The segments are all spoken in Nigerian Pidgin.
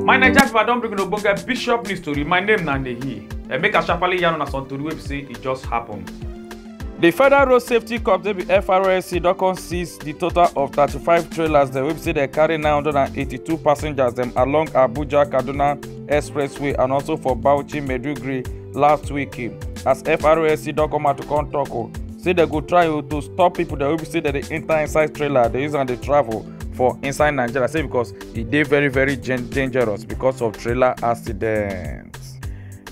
my naija pipo i don bring una ogbonge bishop news tori my name na nehi and make i sharparly yarn una some tori wey be say e just happen. di federal road safety corps wey be frosc don come seize di total of 35 trailers dem wey be say dem carry 982 passengers dem along abuja kaduna Expressway and also for Bauchi Meduguri last week eh, as FRSC don come out to come talk o oh, say dem go try oh, to stop people that wey say dem dey enter inside trailer dey use am dey travel for inside Nigeria say because e dey very very dangerous because of trailer accident.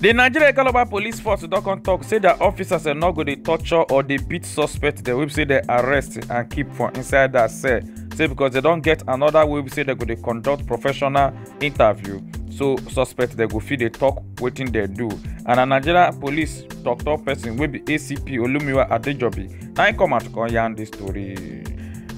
The Nigeria Calabar Police Force don come talk say their officers are not go dey torture or dey beat suspects dem wey say dem arrest and keep for inside their cell say because they don get another way wey say dem go dey conduct professional interview so suspect dem go fit dey tok wetin dem do and na nigeria police tok-tok person wey be acp olumiwa adejobi na im come out come yarn dis tori.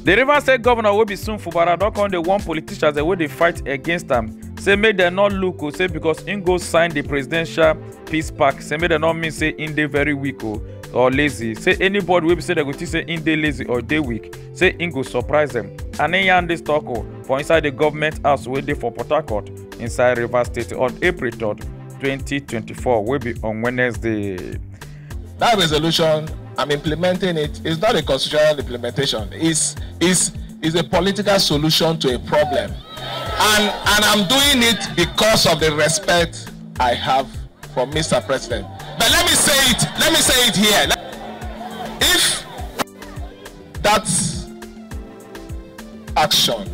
di rivers state governor wey be soon fubara don come dey warn politicians wey dey fight against am say make dem no look o say because im go sign di presidential peace pact say make dem no mean say im dey very weak o or lazy say anybody wey be say dem go think say im dey lazy or dey weak say im go surprise dem and im yarn dis tok o for inside di government house wey dey for port harcourt inside rivers state on april 3 2024 wey be on wednesday. that resolution i'm implementing it is not a constitutional implementation it's it's is a political solution to a problem. And, and I'm doing it because of the respect I have for Mr. President. But let me say it, let me say it here. Dat action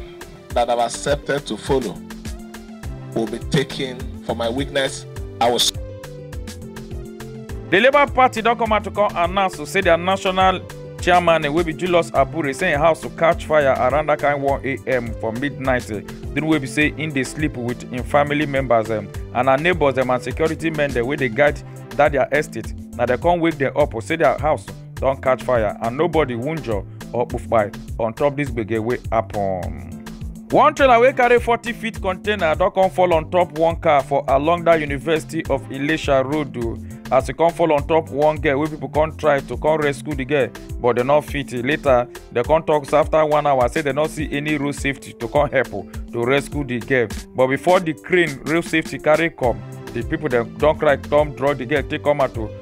dat I have accepted to follow will be taken for my weakness, I will. Di Labour Party don come out to come announce to say dia national chairman wey be Julius Abure say im house to catch fire around dat kain 1am for midnight during wey be say im dey sleep wit im family members and her neighbours dem and security men dem wey dey guide dat dia estate na dem come wake dem up say dia house. don catch fire and nobody wunjure or kpufkpai on top dis gbege wey happen. one trailer wey carry forty feet container don come fall on top one car for along dat university of ilesha road o as e come fall on top one girl wey pipo come try to come rescue di girl but dem no fit later dem come tok afta one hour say dem no see any road safety to come help to rescue di girl but before di crane road safety carry come di pipo dem don cry come draw di girl take come out o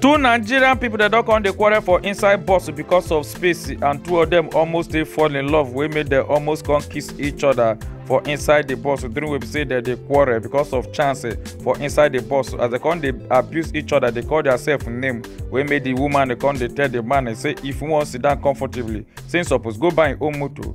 two nigerian pipo dem don come dey quarrel for inside bus because of space and two of dem almost dey fall in love wey make dem almost come kiss each other for inside di bus during wey be say dem dey quarrel because of chance eh, for inside di bus as dem come dey abuse each other dey call diasef name wey make di woman dey come dey tell di man eh, say if you wan sit down comfortably say im suppose go buy im own motor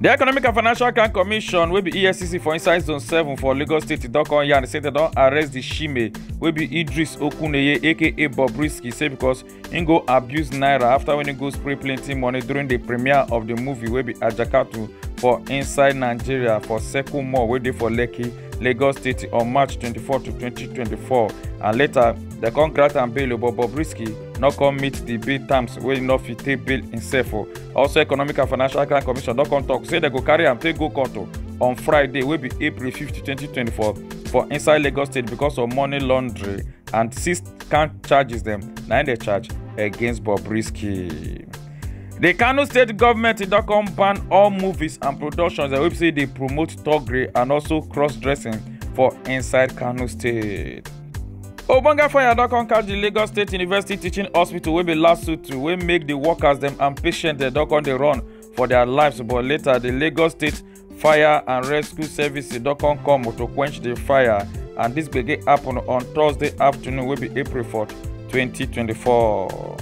The Economic and Financial Crime Commission will be ESCC for inside zone 7 for Lagos State e don come yarn say they don arrest the shime will be Idris Okuneye aka Bobrisky say because he go abuse naira after when he go spray plenty money during the premiere of the movie will be Ajakatu for inside Nigeria for Seku Mall wey dey for Lekki, Lagos State on March 24 to 2024 and later they come grant am bail but Bobrisky no come meet di bail terms wey no fit take bail imsef o also economic and financial crime commission don come tok say dem go carry am take go court o on friday wey be april 5 2024 for inside lagos state because of money laundering and six count charges dem na im dey charge against bobrisky di kano state government don come ban all movies and productions wey be say dey promote thuggery and also cross dressing for inside kano state ogbonge fire don come catch di lagos state university teaching hospital wey be last suit wey make di workers dem and patients dem don come dey run for dia lives but later di lagos state fire and rescue services don come come to quench di fire and dis gbege happen on thursday afternoon wey be april 4 2024.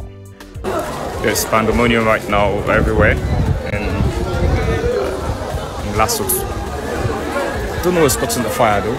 There's pandemonium right now everywhere in, in Lasut. Don't know what's causing the fire though.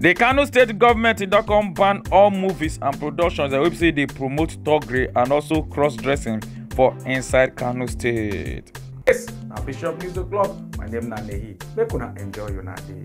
The Kano state government e don come ban all movies and productions wey be say dey promote thuggery and also cross-dressing for inside Kano state. Yes, na Bishop News O'Clock. My name na Nehi. Make una enjoy una day.